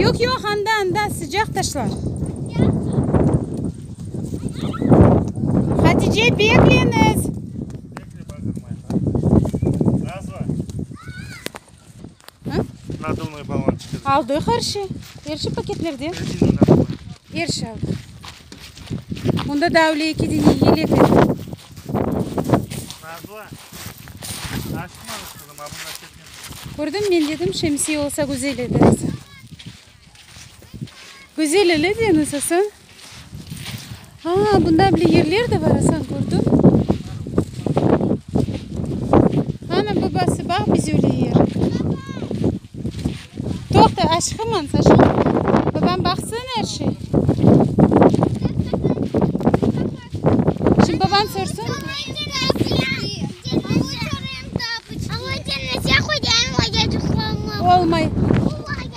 Yoq, yoq, anda, anda, sıcaq taşlar. Hatice, bekleniz! Naduvnoy balon çıqıdı. Aldıq her şey. Her şey paketlerden. Rezina naduvnoy. Her şey aldıq. Onda da öyle iki dene yelek edi. Nazlı. Açtırmañız qızım, a bunlar ketken. Kördim men dedim şemsiye olsa güzel edi. Güzel ele deniz asa. Aa, bunda bile yerler de bar, asan kördim. Ana, babası bax, biz öyle yer. Toqta, aşıqıman, Saşa. Babam baqsın er şey. Şimdi baban sorsın. Olmay.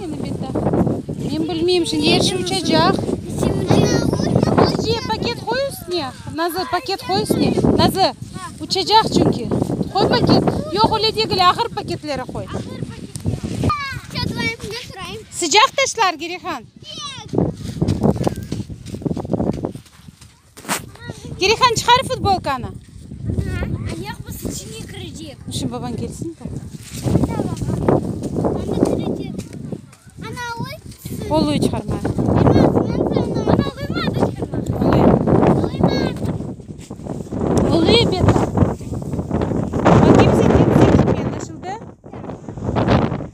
Meni bet taqtınız. Men bilmeyim, şimdi er şey uçacaq. Sizce paket qoy üstüne. Nazı, paket qoy üstüne. Nazı, uçacaq çünkü. Qoy paket. Yoq, öyle degil, ağır paketleri qoy. Sıcaq taşlar, Gerihan. Kerihan, çıqar futbolkanı! Ayaqmız içine kirecek. Dur, şimdi babañ kelsin. Oluy çıqarma.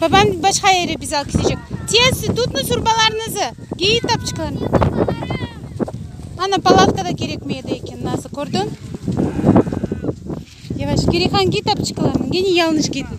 Babam başqa yere bizi alıp ketecek. Tez, tutnıñ surbalarnızı! Geyiñ tapçıklarnı! Ana, palavka da kerekmey edi eken, nazı, kördiñ? Yavaş, Kerihan, giy tapçıklarnı, gene yalnış giydin.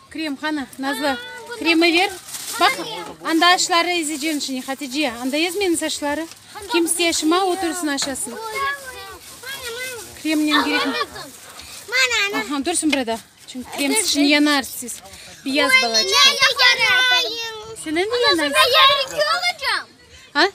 Krem, qani, Nazlı, kremi ver. Baq, anda aşları ezecen şini, Hatice, anda ez meniñ saçları. Kim istey aşıma, o tursın aşasın. Kremnen gerekmi? Aha, dursın burada. Çünki krem sıçın yanar siz. Biyaz balaçık. Senen de yanar. Ha?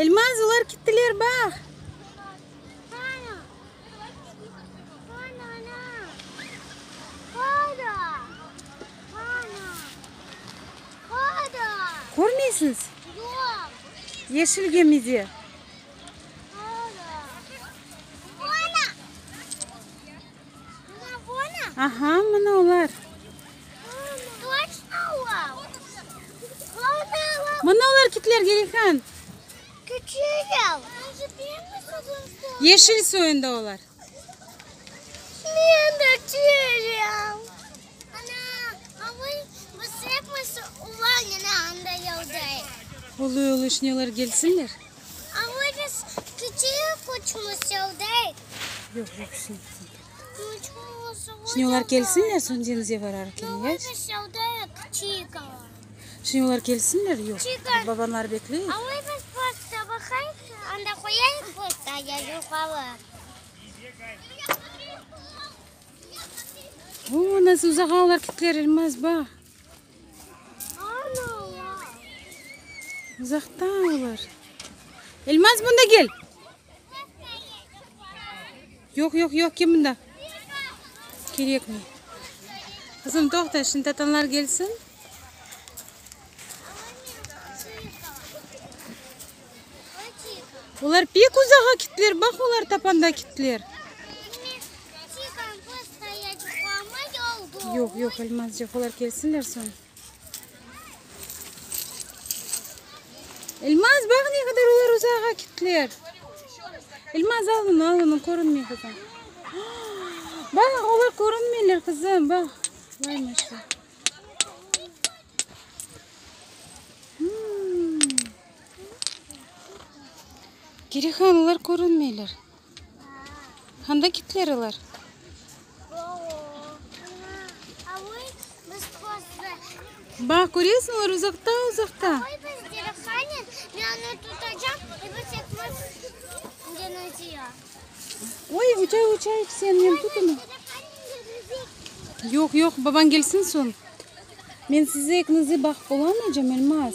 Elmaz, olar kettiler, bax! Körmeysiñiz? Yeşil gemide. Aha, mına olar. Mına olar, kitler, Gelikan! Yeşil soyunda olar. Uluy uluy şneler kelsinler. Şneler kelsinler soñ deñizge bararken. Şimdi olar kelsinler, yoq. Çıqar. Babanlar bekley. Alay biz postda baqayıq, anda qoyayıq postda, ya yoqalıq. Oo, nasıl uzağa olar kittiler, Elmaz, bax. Ana, olar. Uzaqta olar. Elmaz, bunda gel. Yoq, yoq, yoq, kim bunda? Kerekmey. Qızım, toqta, şimdi tatanlar kelsin. Olar pek uzağa kittiler, baq, olar tapanda kittiler. Yoq, yoq, Elmazcıq, olar kelsinler soñ. İlmaz, baq, ne qadar olar uzağa kettiler! İlmaz, al bunı, al bunı, körünmey, qızım. Baq, olar körünmeyler, qızım, baq. Vay, maşallah. Kerihan, olar körünmeyler. Anda kitler ilar. Baq, köresmi, olar uzaqta-uzaqta. Oy, uçay, uçay, sen meni tut indi. Yoq, yoq, babañ kelsin soñ. Men size ikinize baqıp olamaycam, Elmaz.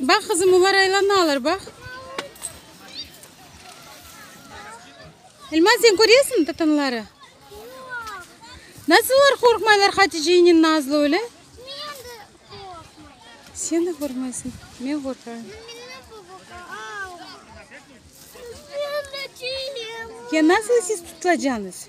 Baq, qızım, olar aylanalar, baq. Elmaz, sen köresiñmi tatanları? Yoq. Nasıl olar qorqmaylar Haticeynen Nazlı öyle? Sen de qorqmaysan. Men qorqarım. Ya nasıl siz tutulacaksınız?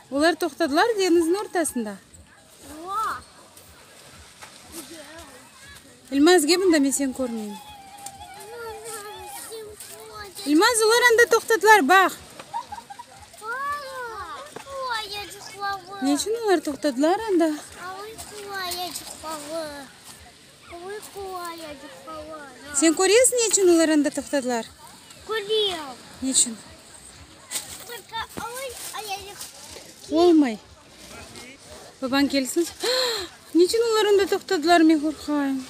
Olar toqtadılar deñizniñ ortasında. İlmaz, gel bunda, men seni körmeyim. İlmaz, olar anda toqtadılar, baq. Ne içün olar toqtadılar anda? Sen köresiñ ne içün olar anda toqtadılar? Körem. Ne içün? Olmay. Babañ kelsin. Ne içün olar anda toqtadılar, men qorqayım.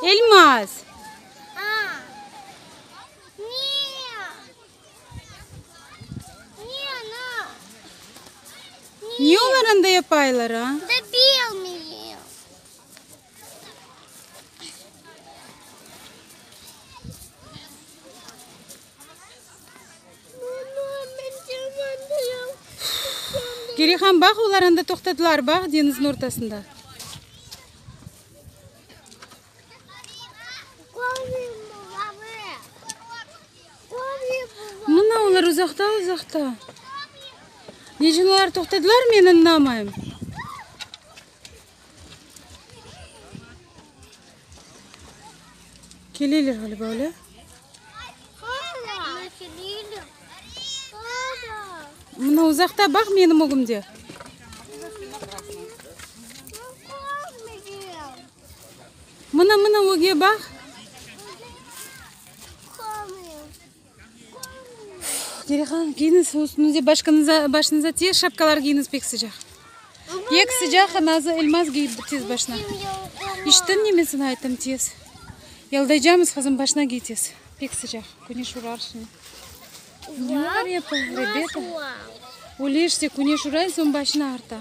Elmaz! Niye olar anda yapaylar a? Gerihan, baq, olar anda toqtadılar, baq, deñizniñ ortasında. Mına olar uzaqta-uzaqta. Necin olar toqtadılar, men añlamayım. Keleler ğaliba, öyle? Mına uzaqta, baq, menim ögümde. Mına, mına öge baq. Derehan, kiyiniz üstünize, başkınıza, başınıza tez şapkalar kiyiniz, pek sıcaq. Pek sıcaq, nazı elmaz kiy tez başına. İşittin neme sana ayttım, tez. Yaldaycamız, qızım, başına kiy tez. Pek sıcaq, küneş urar şimdi. Ne var yapı, rebeta? Öleşse, küneş uray, soñ başını ağırta.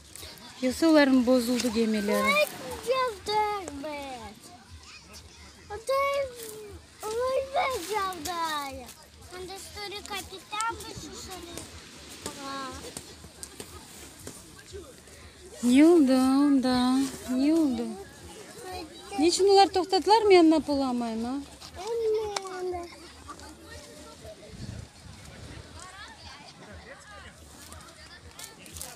Yoksa olarnıñ bozuldı gemileri. Ne oldı onda? Ne oldı? Ne içün olar toqtadılar, men anlap olamayım, a?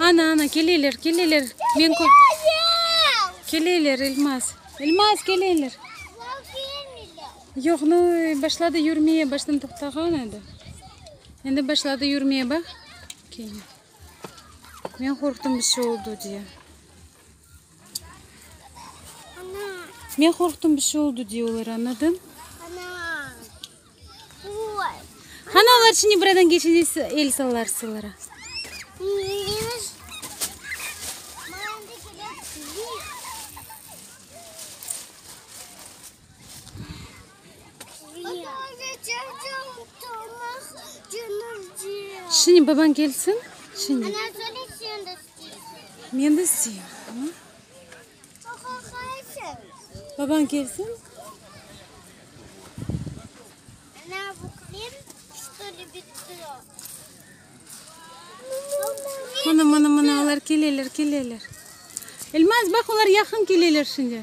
Ana, ana, keleler, keleler. Men kö- Keleler, Elmaz. Elmaz, keleler. Yoq, no, başladı yürmeye, baştan toqtağan edi. Endi başladı yürmeye, bax. Kene. Men qorqtum, bir şey oldu diye. Men qorqtum, bir şey oldu diye olar, añladın? Qani, olar şimdi buradan keçende siz el salarsılara. Şimdi baban kelsin, şimdi. Men de isteyim. Babañ kelsin. Mına, mına, mına, olar keleler, keleler. Elmaz, baq, olar yaqın keleler şimdi.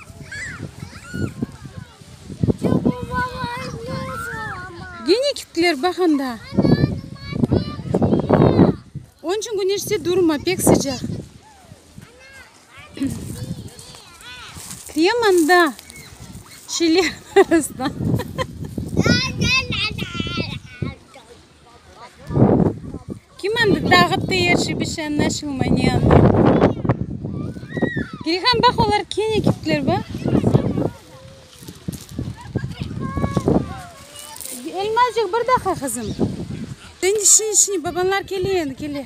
Gene kittiler, baq anda. Onıñ içün güneşte durma, pek sıcaq. Kitleyem anda, şeyler arasına. Kim endi tağıp deyerşi bir şey añlaşılmay ne anlamda. Girihan baq olar kene kettiler baq. Elmacıq bir daqa qızım. Sen işine işine babanlar kele endi kele.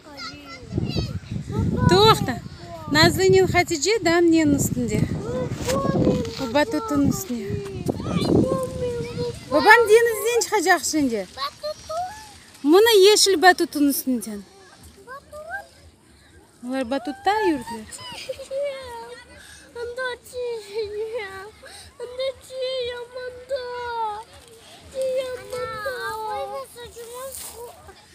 Toqta! Nazlınen Hatice Damniye'nin üstünde. Baba Tutu'nıñ üstüne. Babam deñizden çıqacaq şimdi. Mına yeşil Batutu'nıñ üstünden. Olar Batutta yürdiler.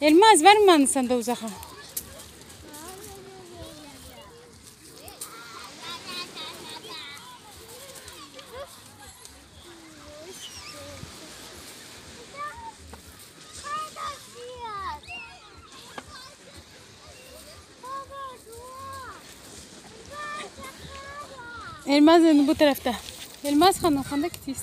Elma az barmı mani sanda uzaqa? Elmaz indi bu tarafta. Elmaz hanım, handa kitiys?